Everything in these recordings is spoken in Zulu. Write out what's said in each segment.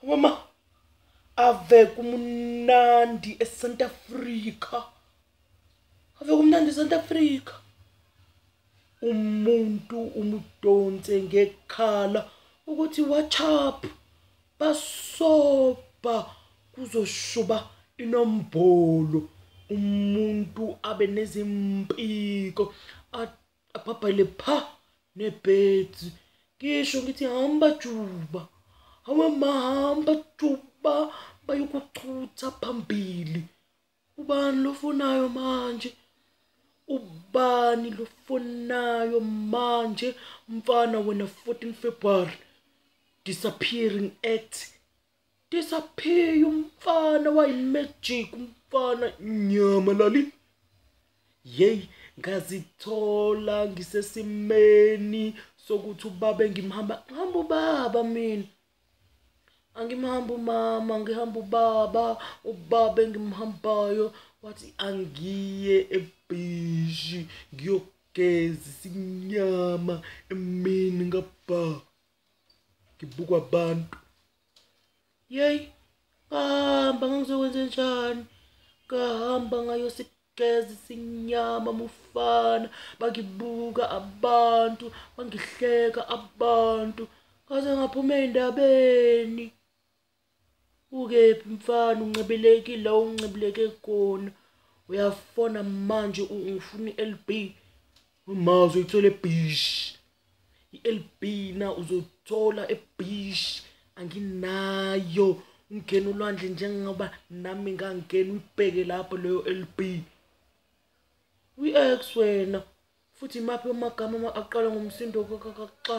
mama ave kumnandi esanta africa ave kumnandi esanta africa umuntu umudonse ngekhala ukuthi whatsapp basobha kuzoshuba inombolo umuntu abe nezimpiko abhabhale pha nebhedzi ngisho ngithi hamba juba hawe mahamba juba bayokuchutha phambili ubani lofonayo manje ubani lofonayo manje mfana wena 14 February disappearing act disappear umfana wayimagic umfana nyama lali yey ngazithola ngisesimeni sokuthi ubaba engimhamba ngihamba ubaba mina angimhamba umama ngihamba ubaba ubaba engimhambayo wathi angiye ebhishi ngiyogeza isinyama emini ngabha ngibukwa abantu yeyi ngahamba ngangizokwenze njani ngahamba ngayosigeza isinyama mufana bangibuka abantu bangihleka abantu ngaze ngaphuma ey'ndabeni ukephi mfana uncibileki la uncibileke khona uyafona manje ungifuna i-lb umazi uyithola ebish i-lb na uzothola ebish anginayo ungena ulwandle njengoba nami ngangena uyibheke lapho leyo lb uyi-x wena futhi imaphi amagama aqala ngomsindo kakaxa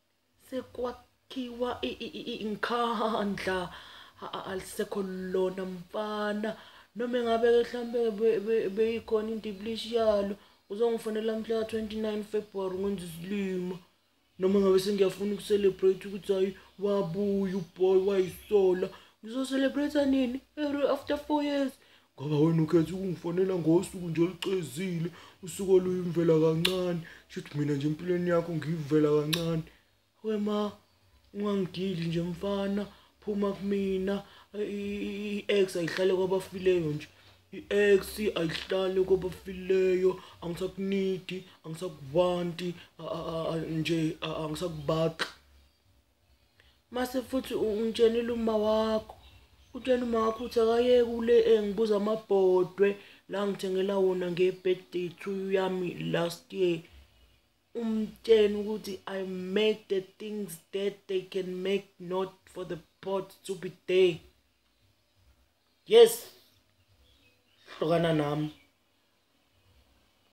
sekwakhiwa inkhandla alisekho lona mfana noma engabe mhlawumbe beyikhona indiblishi yalo uzongifonela mhla ka-29 february ngenza isilima noma ngabe sengiyafuna ukucelebrate ukuthi hhayi wabuya uboy wayisola ngizocelebrate nini after four years ngoba wena ukhetha ukungifonela ngosuku nje olucezile usuku oluyimvela kancane shuthi mina nje empilweni yakho ngiyivela kancane wema ungangidili nje mfana phuma kumina i-ex ayihlale kwabafileyo nje i-ex ayihlale kwabafileyo angisakunidi angisakubanti nje angisakubaqi mase futhi ungitshenile uma wakho utshena uma wakho uthi akayeke ule engibuza amabhodwe la ngithengela wona nge-birthday to yami last year umtsheni ukuthi i make the things that they can make not for the pot to be there yes hlukana nami